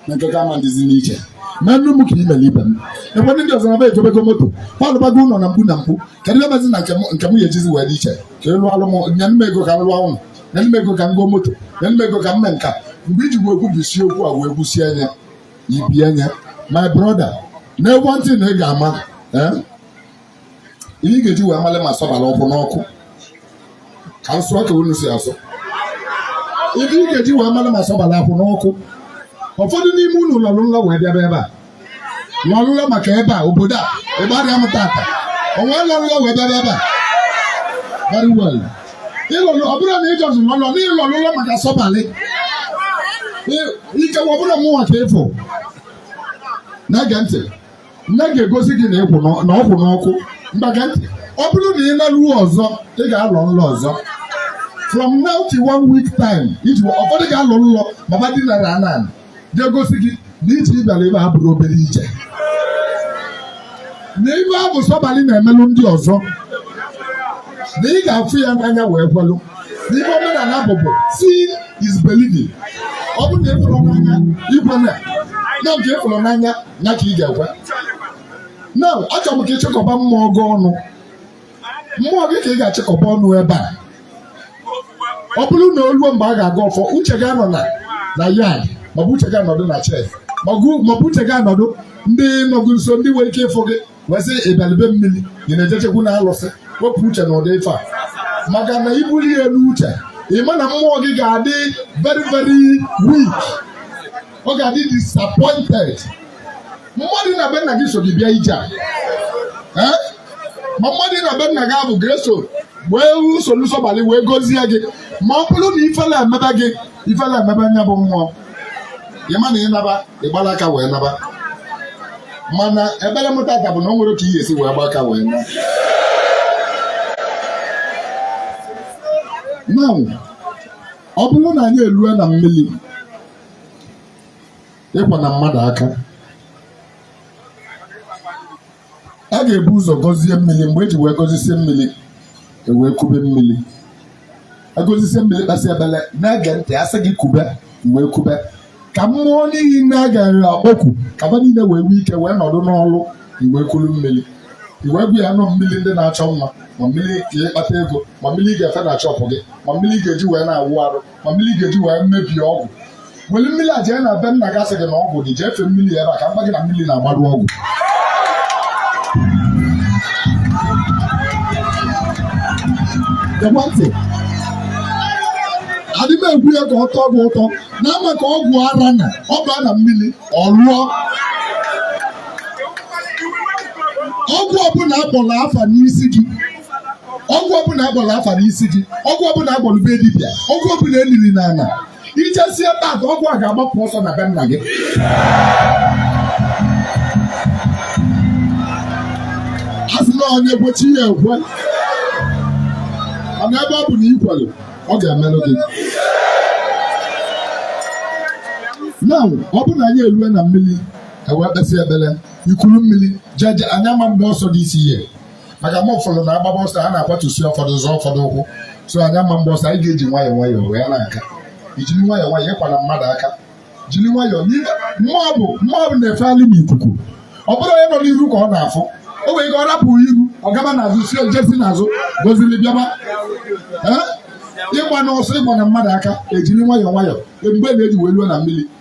B: na nke gị ama dịzi n'iche na nnu m ka ị mere ibe m ekwe ndị ọzọ na ba egobego moto ba alụbago ụlọ na mkpu na mkpu kedụ ife mezi na nke m- nke m ga-ejizi wee dị iche ka ịlụ alụ m nye m ego ka m lụọ ụlọ nye m ego ka m goo moto nye m ego ka m mee nka mgbe iji gwa okwu bụ isi okwu a wee gwusie anya ibie anya my brother na one thing ị ga-ama eh, ihe ị ga-eji wee male ma sọbalị ọ kwụ n'ọkụ ka m sụọ ka unu si asụ ihe ị ga-eji wee male ma sọbalị akwụ n'ọkụ ụfọdụ n'ime unu lọrụ nlọ wee bịaba ebe a lọrụ nlọ maka ebe a obodo a ebe a rịa m tata onye lọrụ nlọ wee bịaba ebe a very well ịlọrụ ọ bụrụ na ịjọzụ lọlọ na ịlọrụ nlọ maka sọbalị ikewa ọ bụrụ mụnwa ka ịfụ na-ege ntị nke ga-egosi gị na ọ kwụ n'ọkụ ngwa gee ntị ọ bụrụ na ị naruo ọzọ ị ga-alọ nlọ ọzọ from now to one week time iji ụfọdụ ga-alọ nlọ ma ba dinara ana nke ga-egosi gị na ije ịbịara ebe a abụrọ obere ije na ife a bụ sọbalị na-emelụ ndị ọzọ na ị ga-afụ ya n'anya wee kwelụ na ife omenala bụ bụ seeing is believing ọ bụrụ na ịfụrụ n'anya ikwe na na nke ịfụrụ n'anya ya ka ị ga-ekwe na achọrọ m ka ịchịkọba mmụọ gị ọnụ mmụọ gị ka ị ga-achịkọba ọnụ ebe a ọ bụrụ na oluo mgbe a ga-agọ ọfọ uche gị anọ na na yard maọbụ uche gị anọdụ na shed maọbụ uche gị anọdụ ndị nọ gị nso ndị nwere ike ịfụ gị wee sị ịbịalị be mmiri ị na-ejechekwu na alụsị wepụ uche na ụdị ife a maka na ibuli ya n'uche ị ma na mmụọ gị ga-adị very very weak ọ ga-adị disappointed mmụọ dị na be nna gị so gị bịa ije a Eh? ma mmụọ dị na be nna gị abụ greso wee soro sọbalị wee gozie gị ma ọ bụrụ na ifele emebe gị ifele emebe nya bụ mmụọ ịma na ịnaba ịgbala aka wee naba mana ekpere m tata bụ na o nwerọ ka ị ya-esi wee gba aka wee na now ọ bụrụ na anyị erue na mmiri ịkwana mmadụ aka a ga-ebu ụzọ gọzie mmiri mgbe eji wee gọzisie mmiri ewee kube mmiri agọzisie mmiri kpesị ekpere na-ege ntị asị gị kube wee kube ka mmụọ niile a ga-akpọku ka ba niile wee nwee ike wee nọdụ n'ọlụ iwee kuru mmiri iwe bụ ya nọ mmiri ndị na-achọ nwa ma mmiri ga-akpata ego ma mmiri ị ga-efe na shop gị ma mmiri ị ga-eji wee na-awụ arụ ma mmiri ga-eji wee mebie ọgwụ were mmiri a jee na be nna gị asị gị na ọgwụ dị jee fee mmiri ebe a ka m gwa gị na mmiri na-agbarụ ọgwụ ekwentị adị m egwu ya ka ọ tọọ gị ụtọ na ama ka ọgwụ ara na ọ baa na mmiri ọ lụọ ọgwụ ọbụla akpọrọ afa n'isi gị ọgwụ ọbụla akpọrọ afa n'isi gị ọgwụ ọbụla agwọrọ be dibịa ọgwụ ọbụla eliri n'ala ijesie taata ọgwụ a ga-agbapụ ọsọ na be nna gị asị na onye kwe chi ya ekwe mana ebe ọ bụ na ikwere ọ ga-emere gị na ọ bụ na anyị erue na mmiri ewee kpesị ekpere ikuru mmiri jeje anyị ama agba ọsọ this year maka ma ụfọdụ na-agbaba ọsọ a na-akwatusi ụfọdụ zọọ ụfọdụ ụkwụ so anyị ama agba ọsọ anyị ga-eji nwayọọ nwayọọ wee na-aga ijiri nwayọọ nwayọọ ịkwana mmadụ aka jiri nwayọọ mmụọ bụ mmụọ bụ na-efegharị n'ikuku ọ bụrụ onye nọ n'iru ka ọ na-afụ o nwere ike ọ rapụ iru ọ gaba n'azụ si ojesi n'azụ gọziri bịaba Ee? ịgbana ọsọ ịkwana mmadụ aka ejiri nwayọọ nwayọọ mgbe na-eji wee luo na mmiri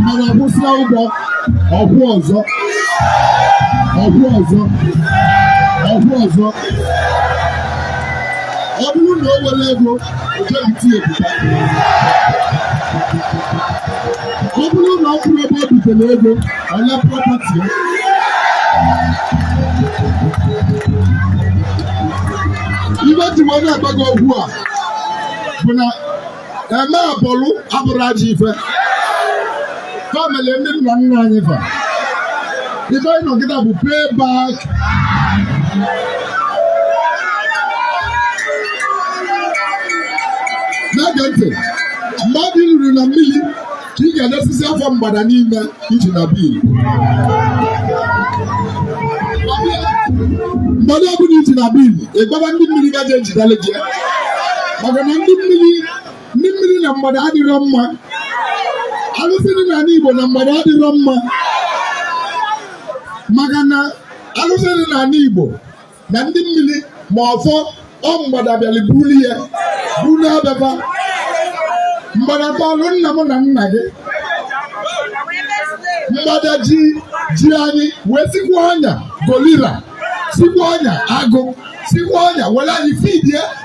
B: mgbada kwụsịa ụgwọ ọ kwụọ ọzọ ọ kwụọ ọzọ ọ kwụọ ọzọ ọ bụrụ na o nwere ego ojebiti ebuka ọ bụrụ na ọ kwụrụ ebe o bitere ego ọnya property ya ibe ji wee na-agba gị okwu a bụ na eme abụrụ abụrụ ajọ ife family ndị nna nna anyị fa ife anyị nọgide bụ pay back na-ege ntị mmadụ ruru na mmiri ka ị ga-edesizi afa mgbada niile iji na bil mgbada ọbụla iji na bil ịgbaba ndị mmiri gaje ejidele gị maka na ndị mmiri ndị mmiri na mgbada adịrọ mma alụsị dị n'ala Igbo na mgbada adịrọ mma maka na alụsị dị n'ala Igbo na ndị mmiri ma ọfọ ọ mgbada bịara buru ya buru abịaba mgbada tọlụ nna m na nna gị mgbada ji ji anyị wee sikwa ọnya gorila sikwa ọnya agụ sikwa ọnya were anyị fidie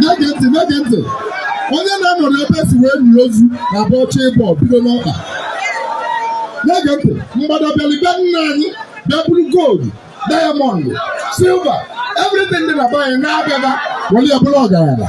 B: na-ege ntị na-ege ntị onye na-anọrọ ebe e si wee nie ozu na-abụ ọ chọọ ịbọ bido n'ọkpa na-ege ntị mgbada bịalụ be nna anyị bịa buru gold diamond silver everything dị na be anyị na-abịaba were ya bụrụ ọgaranya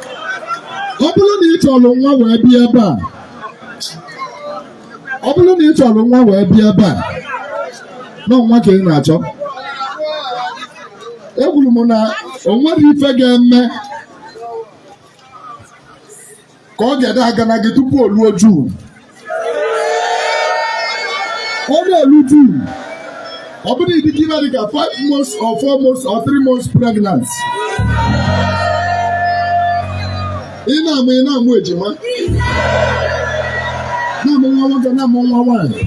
B: ọ bụrụ na ị chọrọ nwa wee bịa ebe a ọ bụrụ na ị chọrọ nwa wee bịa ebe a na ọ nwa ka ị na-achọ ekwuru m na o nwere ife ga-eme ka ọ ga-ede aga na gị tupu o luo June ọ na-elu June ọ bụrụ na ị dịkwa ime dịka 5 months or 4 months or 3 months pregnant ị na-amụ ị na-amụ ejima na-amụ nwa nwoke na-amụ nwa nwaanyị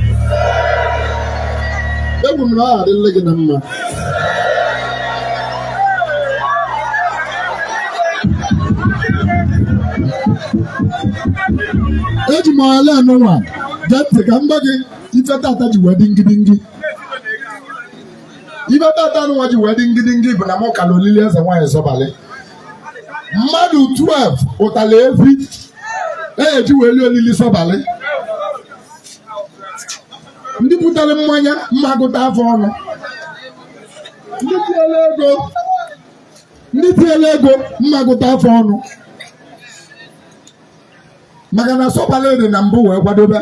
B: ekwuru m na ọ ga-adịlị gị na mma eji m ala anụnwa gee ntị ka m gwa gị ife tata ji wee dị ngidingi ife tata anụnwa ji wee dị ngidingi bụ na m kalụ olili eze nwaanyị sọbalị mmadụ 12 kpụtalụ efi e ji wee lie olili sọbalị ndị butere mmanya m ma gụta fa ọnụ ndị tinyere ego ndị tinyere ego m ma gụta fa ọnụ maka na sọbalị dị na mbụ wee kwadobe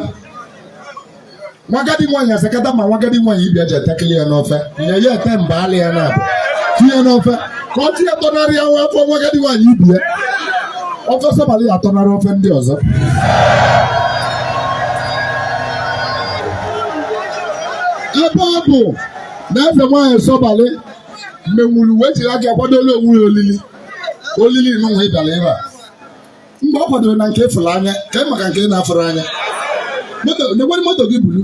B: nwa agadi nwaanyị asakata ma nwa agadi nwaanyị ibia ji etekele ya n'ofe nye ya ete mba alị ya na-abụ tinye n'ofe ka ọ tinye tọnarị ya nwa afọ nwa agadi nwaanyị ibi ya ofe sọbalị ya atọnarị ofe ndị ọzọ ebe ọ bụ na eze nwaanyị sọbalị menwuru wee jiri aka ya kwadolu onwe ya olili olili n'ụwa ị bịara ebe a mgbe ọ kwadoro na nke ị fụrụ anya ka ị maka nke ị na-afụrọ anya nekwere moto gị buru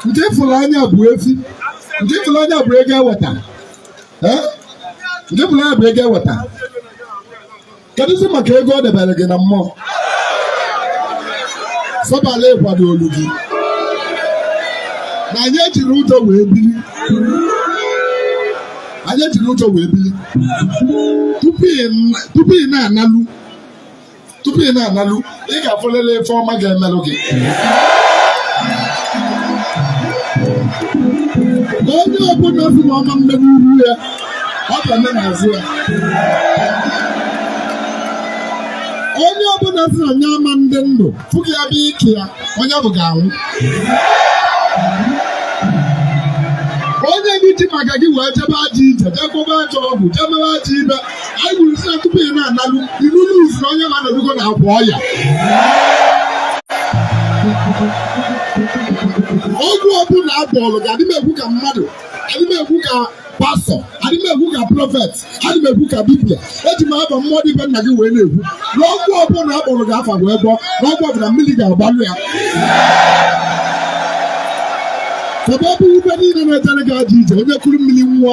B: nke ị fụrụ anya bụ efi nke ị fụrụ anya bụ ego eweta nke ị fụrụ anya bụ ego eweta kedụzi maka ego ọ debere gị na mmụọ sọbala ịkwado olu gị na anyị ejiri ụjọ wee bili na anyị ejiri ụjọ wee bili tupu ị na-analụ tupu ị na-analụ ị ga-afụlele ife ọma ga-emelụ gị onye ọbụla sị na ọ ma eme n'iru ya ọ ga-eme n'azụ ya onye ọbụla sị na anyị ama adị ndụ fụghị ya bụ ike ya onye bụ ga-anwụ onye gị ji maka gị wee jebe ajọ ije jee gwọba ajọ ọgwụ jee mewe ajọ ife anyị kwuru sị na tupu ị na-analụ ị nụzie na onye na-anọdugo na akwa ọya ọgwụ ọbụla a gwọọlụ gị adị m ekwu ka mmadụ adị m ekwu ka pastọ adị m ekwu ka prọfet adị m ekwu ka dibia eji m afa mmụọ dị be nna gị wee na-ekwu na ọgwụ ọbụla a kpọrọ gị afa wee gwọ na ọgwụ ọbụla mmiri ga-agbalụ ya ebe ọ bụ ibe niile na-ejere gị ajọ ije onye kuru mmiri ṅụọ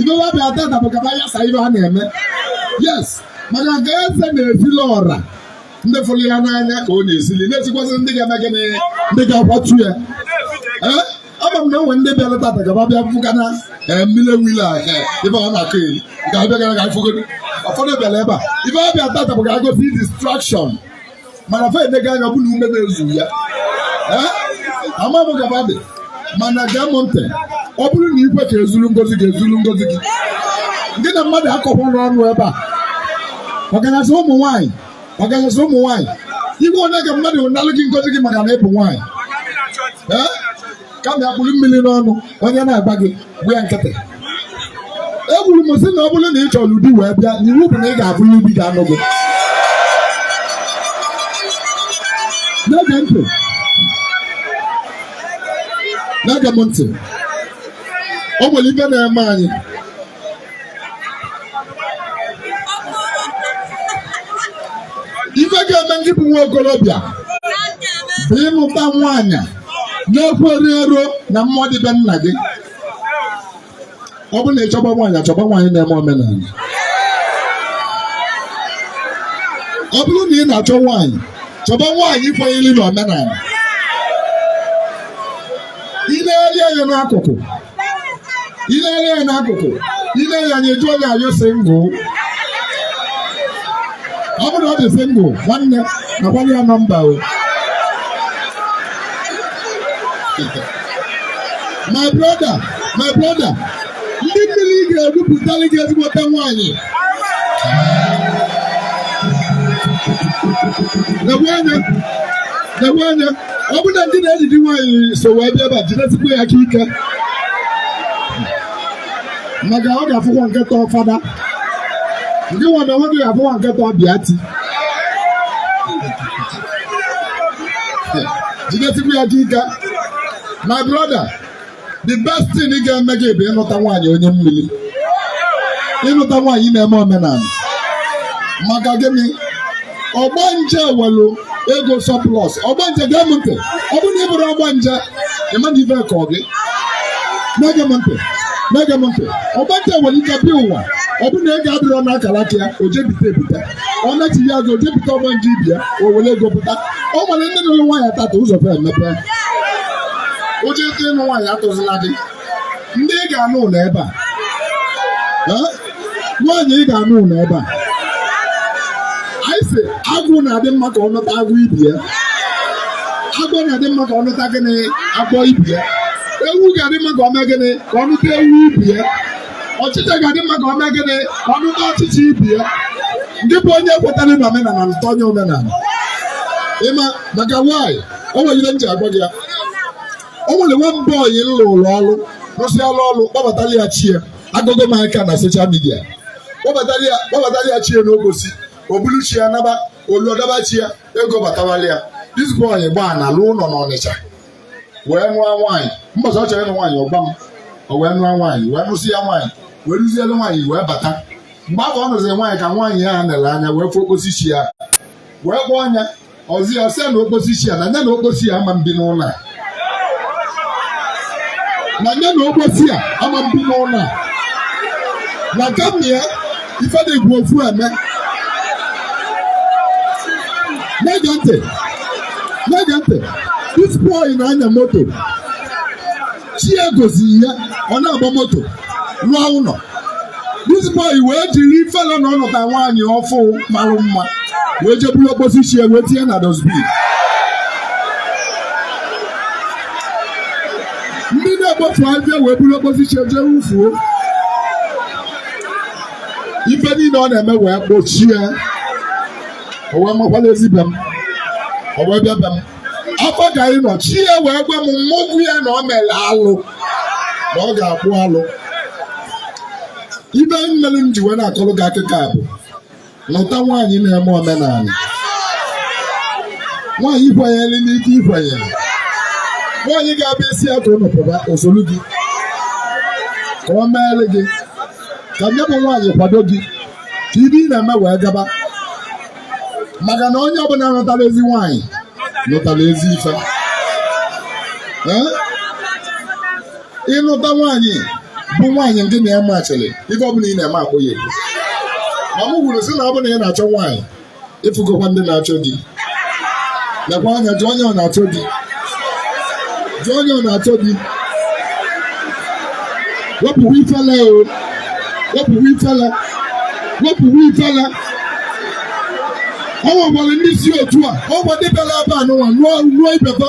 B: ife wa bịa tata bụ ka fa yasaa ife a na-eme yes maka na ka eze nwesịlị ọra ndị fụrụ ya n'anya ka o nwesịlị nwesịkwazị ndị ga-eme gịnị ndị ga-akwatu ya ee ama m na o nwe ndị bịara tata ka fa bịa fụ ka na ee mmiri wile a ee ife ọ na-akọ eri ga-abịa gara ga fụgo ụfọdụ bịara ebe a ife wa bịa tata bụ ka a cause distraction mana fa enega anya ọ bụ na ume na-ezu ya ama m ka fa dị mana gee m ntị ọ bụrụ na i kwe ka e zulu ngozi gị e zulu ngozi gị gị na mmadụ akọkwana ọnụ ebe a ọkachasị ụmụ nwaanyị ọkachasị ụmụ nwaanyị ekwene ka mmadụ nalụ gị ngozi gị maka na ị bụ nwaanyị kama ị ya-akpụrụ mmiri n'ọnụ onye na-agwa gị gbaa ya nkịtị ekwuru m sị na ọ bụrụ na ị chọrọ di wee bịa na iwu bụ na ị ga-afụ di ga-anụ gị na-ege m ntị na-ege m ntị o nwere ife na-eme anyị ife ga-eme gị bụ nwa okorobịa bụ ịnụta nwaanyị na-ekwenyerọ na mmụọ dị be nna gị ọ bụrụ na ị chọba nwaanyị chọba nwaanyị na-eme omenala ọ bụrụ na ị na-achọ nwaanyị chọba nwaanyị kwenyere na omenala i negharịa anya n'akụkụ ilele ya n'akụkụ ile ya anya ị jụọ ya are you single ọ bụrụ ọ dị single nwanne akwanye ya nọmba o my brother my brother ndị mmiri ga-ebupụtali gị ezigbote nwaanyị na-enwe anya na-enwe anya ọ bụ na ndị na-ejide nwaanyị so wee bịa ebe a jidesikwa ya aka ike maka ọ ga-afụkwa nke tọọ fada ndị nwa na onwe gị ga-afụkwa nke tọọ bịa ti jidesikwa ya aka ike my brother the best thing ga-eme gị bụ ịnụta nwaanyị onye mmiri ịnụta nwaanyị na-eme omenala maka gịnị ọgbanje nwelu ego surplus ọgbanje gee m ntị ọ bụrụ na ị bụrụ ọgbanje ị ma na ife ka ọ gị na-ege m ntị na-ege m ntị ọgbanje nwere ike bịa ụwa ọ bụrụ na ego adịrọ n'akara aka ya o je bite ebite ọ nachigha azụ je bite ọgbanje ibe ya o were ego pụta ọ nwere ndị nụrụ nwaanyị tata ụzọ fa emepe ụjọ ike ịnụ nwaanyị atụzila gị di ị ga-anụ nọ ebe a Eh? nwaanyị ị ga-anụ nọ ebe a anyị sị agwụ na-adị mma ka ọ nụta agwụ ibe ya agwọ na-adị mma ka ọ nụta gịnị agwọ ibe ya ewu ga-adị mma ka ọ mee gịnị ka ọ nụta ewu ibe ya ọchịcha ga-adị mma ka ọ mee gịnị ka ọ nụta ọchịcha ibe ya ngị bụ onye kwetara na omenala nụta onye omenala ịma maka nwaanyị o nwere ihe m ji agwa gị ya o nwere nwa boy m lụrụlụ ọrụ rụsịala ọrụ kpọbatara ya chi ya agụgụ m aka na social media kpọbatara ya kpọbatara ya chi ya n'okposi o bulu chi ya naba o luo dọba chi ya ego batawala ya this boy gbaa na-alụ ụlọ n'Ọnịcha wee nụọ nwaanyị mbọsị ọ chọrọ ịnụ nwaanyị ọ gba mbọ wee nụọ nwaanyị wee nụsịa nwaanyị wee rụzielu nwaanyị wee bata mgbe afụ ọ nụziri nwaanyị ka nwaanyị ya nere anya wee fụ okposi chi ya wee kpọọ anya ọzi ya sị na okposi chi ya na nya na okposi ya ama ebi n'ụlọ a na nya na okposi a ama ebi n'ụlọ a na kama ya ife na-egwu ofu eme na-ege ntị na-ege ntị this boy na-anya moto chi ya goziri ya ọ na-agba moto rụọ ụlọ this boy wee jiri ifele na ọ nụta nwaanyị ọfụ marụ mma wee jeburu okposi chi ya wee tinye na dustbin ndị na-ekpofu afịfịa wee buru okposi chi ya jee wufuo ife niile ọ na-eme wee kpọchie o wee makwala ezi be m o wee bịa be m afọ ka anyị nọ chi ya wee gwa m mmụgwụ ya na ọ mere alụ na ọ ga-akpụ alụ ife melu m ji wee na-akọrọ gị akụkọ a bụ nụta nwaanyị na-eme omenala nwaanyị kwenyere n'ife ị kwenyere nwaanyị ga-abịa ị sị ya ka unu pụba o solu gị ka ọ meere gị ka nye bụ nwaanyị kwado gị ka ife ị na-eme wee gaba maka na onye ọbụla nụtara ezi nwaanyị nụtara ezi ife ị nụta nwaanyị bụ nwaanyị nke na ya machiri ife ọbụla ị na-eme akpọ ya ekwu ma m kwuru sị na ọ bụrụ na ị na-achọ nwaanyị ị fụgokwa ndị na-achọ di lekwa anya jụọ onye ọ na-achọ di jụọ onye ọ na-achọ di wepụwa ifele o wepụwa ifele wepụwa ifele ọ nwekwara ndị si otu a ọ gwa ndị bịara ebe a n'ụwa nụọ ibeba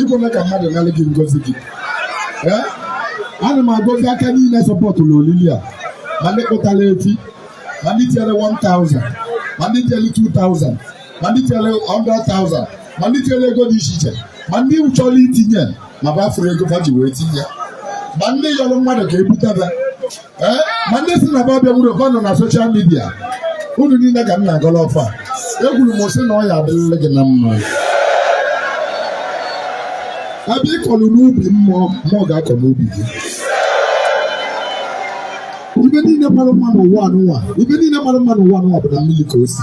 B: i kwena ka mmadụ nalụ gị ngozi gị ee ana m agọzi aka niile sọpọtụlụ olili a ma ndị kpụtara efi ma ndị tinyere 1000 ma ndị tinyere 2000 ma ndị tinyere 100,000 ma ndị tinyere ego dị iche iche ma ndị chọrọ itinye ma fa afụrọ ego fa ji wee tinye ma ndị yọrọ mmadụ ka ebutebe eh, ma ndị sị na fa abịanwurọ fa nọ na social media unu niile ka m na-agọrọ ọfọ ekwuru m sị na ọ ya-adịrịrị gị na mma ebe ị kọlụ n'ubi mmụọ mmụọ ga-akọ n'ubi gị ife niile mara mma n'ụwa anụnwa ife niile mara mma n'ụwa anụnwa bụ na mmiri ka o si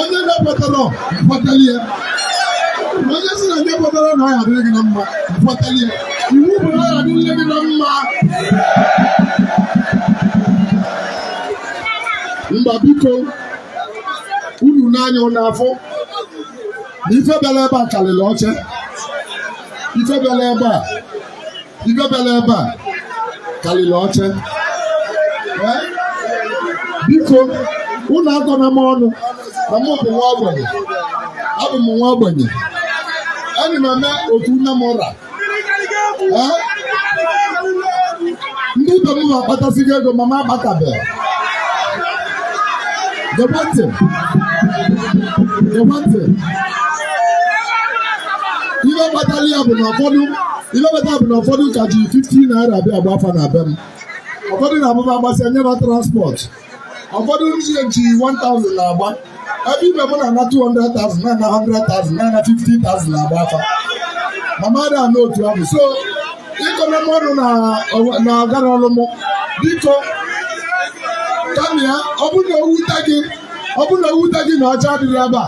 B: onye na-ekwetarọ kpọtalụ ya onye sị na nya ekwetarọ na ọ ya-adịrị gị na mma kpọtalụ ya iwu bụ na ọ ya-adịrị gị na mma mba biko unu n'anya ụlọ afọ na ife bịara ebe a karịrị oche ife bịara ebe a ife bịara ebe a karịrị oche biko unu akọna m ọnụ na mụ bụ nwa ogbenye abụ m nwa ogbenye ana m eme otu nne m ụra ndị ibe m na-akpatasigo ego ma m akpatabeghị gekwe ntị gekwe ntị ihe kpatara ya bụ na ụfọdụ ife kpatara bụ na ụfọdụ ka ji 15 naira abịa agba afa na be m ụfọdụ na-abụ fa agbasịa enye fa transport ụfọdụ ndị ji 1000 na-agba ebe ibe m na-ana 200,000 na-ana 100,000 na-ana 50,000 na-agba afa ma m adị ana otu ahụ so ị kọna m ọnụ na ọgara ọlụ mụ biko kama ya ọ bụrụ na o wute gị ọ bụrụ na o wute gị na oche adịrọ ebe a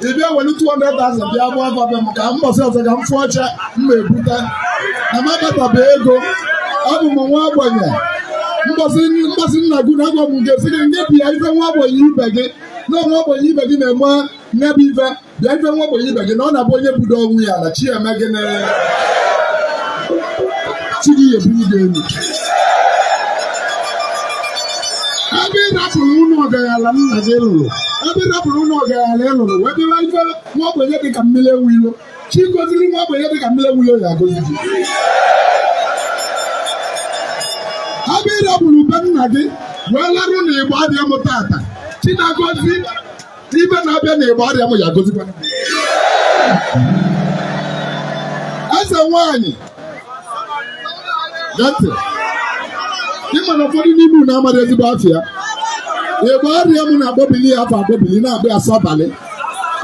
B: ị bịa welu 200,000 bịa gbaa afa be m ka mbọsị ọzọ ka m fụ oche m ma ebute na m akpatabe ego abụ m nwa ogbenye mbọsị nna gị na agwụ ga-asị gị nye bịa ife nwa ogbenye ibe gị na nwa ogbenye ibe gị na-eme nyebe ife bịa ife nwa ogbenye ibe gị na ọ na-abụ onye budo onwe ya na chi eme gịnị chi gị ebunie gị elu ebe ị rapụrụ ụlọ ọgaranya nna gị lụrụ ebe ị rapụrụ ụlọ ọgaranya ị lụrụ wee bịara ife nwa ogbenye dị ka mmiri enwe ilo chi goziri nwa ogbenye dị ka mmiri enwe ilo ya agozi gị ebe ị rapụrụ be nna gị wee larụ na Igbariam tata chi na-agozi ibe na-abịa na Igbariam ya gozikwa eze nwanyị gee ntị ị ma na ụfọdụ n'ime unu amaghị ezigbo afa ya Igbariam na-akpọbili ya afa akpọbili na-akpọ ya sọbalị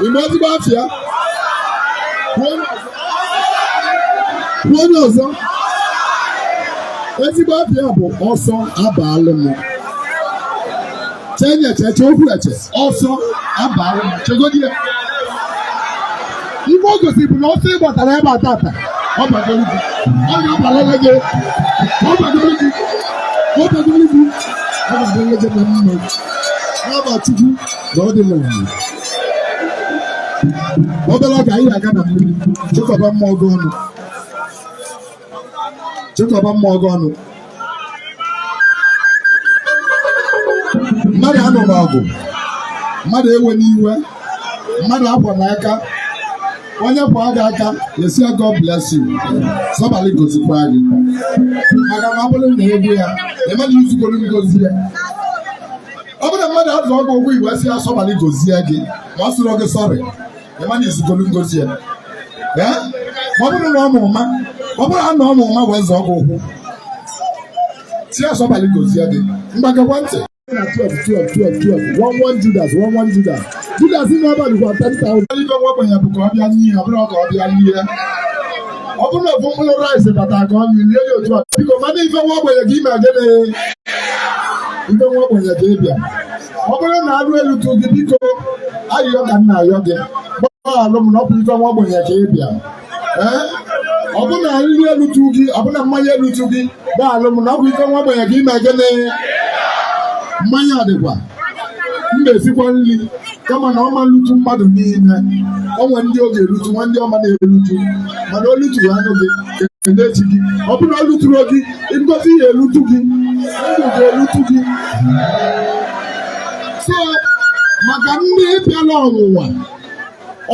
B: ị ma ezigbo afa ya kwuo onye ọzọ ezigbo afa ya bụ ọsọ abalụ m chenye cheche okwu eche ọsọ abalụ m chegodi ya ife o gosiri bụ na ọsọ ị gbatara ebe a tata ọ bagoro gị ọ ga-abalịlị gị ọ bagoro gị ọ bagoro gị ọ ga-adịlị gị na mma n'afa chukwu na ọ dị na mma obere oge anyị ga-aga na mmiri chịkọba mmụọ gị ọnụ chịkọba mmụọ gị ọnụ mmadụ anụna ọgụ mmadụ ewena iwe mmadụ akwana aka onye kwaa gị aka ị sị ya God bless you sọbalị gozikwa gị maka na ọ bụrụ na ị gwa ya ịmana i zugoro ngozi ya ọ bụrụ na mmadụ azọọ gị ụkwụ i wee sị ya sọbalị gozie gị ma ọ sịrọ gị sọrị ịmana i zugolu ngozi ya ọ bụrụ na ọ mara ụma ọ bụrụ na ọ mara ụma wee zọọ gị ụkwụ sị ya sọbalị gozie gị ngwa gekwa ntị na 12 12 12 12 one one Judas one one Judas Judas in n'abalị gwa 10,000. Ife nwa ogbenye bụ ka ọ bịa n'ihe ọ bụrụ ka ọ bịa n'ihe ọ bụrụ na ofu mkpụrụ rice bata ka ọ lie ya otu a biko mana ife nwa ogbenye ka ị me gịnị ife nwa ogbenye ka ị bịa ọ bụrụ na anụ elutu gị biko ayịyọ ka m na-ayọ gị gbaghalụ m na ọ bụ ife nwa ogbenye ka ị bịa ee ọ bụ na nri elutu gị ọ bụ na mmanya elutu gị gbaghalụ m na ọ bụ ife nwa ogbenye ka ị me gịnị mmanya dịkwa m ga-esikwa nri kama na ọ ma-elutu mmadụ niile o nwe ndị ọ ga-elutu nwee ndị ọ ma na-elutu mana o lutu anụ gị kenee chi gị ọ bụrụ na o luturọ gị ngozi ya elutu gị ndụ ga-elutu gị so maka ndị bịara ọnwụnwa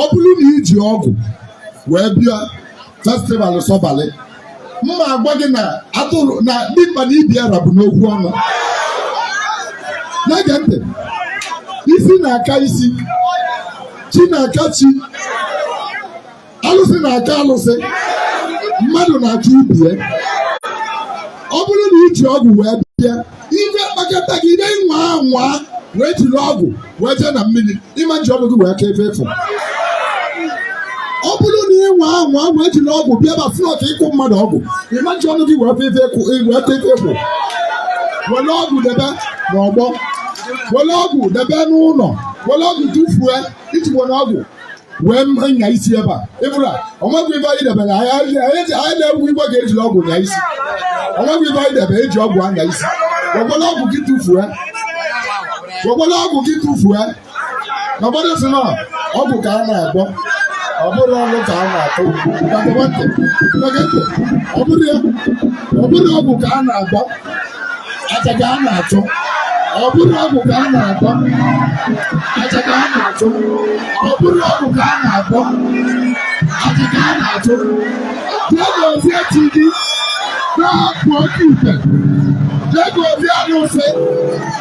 B: ọ bụrụ na i ji ọgwụ wee bịa festival sọbalị mma agwa gị na a tụrụ na dimkpa na ibe ya ra bụ n'okwu ọnụ na-ege ntị isi na-aka isi chi na-aka chi alụsị na-aka alụsị mmadụ na-aka ibe ya ọ bụrụ na i ji ọgwụ wee bịa ife kpakọta gị ide nwa anwa wee jiri ọgwụ wee jee na mmiri ịma nji ọgwụ gị wee ka ebe efu ọ bụrụ na ị nwa anwa wee jiri ọgwụ bịa ba flọt ịkọ mmadụ ọgwụ ịma nji ọgwụ gị wee ka ebe efu wee ka ebe efu were ọgwụ debe n'ọgbọ were ọgwụ debe n'ụlọ were ọgwụ tụfuo i ji were ọgwụ wee nya isi ebe a ịbụra o nwego ibe anyị debere anyị na-egwu igwe ga-ejiri ọgwụ nya isi o nwego ibe anyị debere e ji ọgwụ anya isi wekwala ọgwụ gị tụfuo wekwala ọgwụ gị tụfuo na mmadụ sị na ọgwụ ka a na-agwọ ọ bụrụ ọnụ ka a na-atụ ọ bụrụ ọgwụ ka a na-agwọ aja ka a na-achụ ọ bụrụ ọgwụ ka a na-agwọ aja ka a na-achụ ọ bụrụ ọgwụ ka a na-agwọ aja ka a na-achụ jee gozie chi gị na-apụ oke ite jee gozie arụsị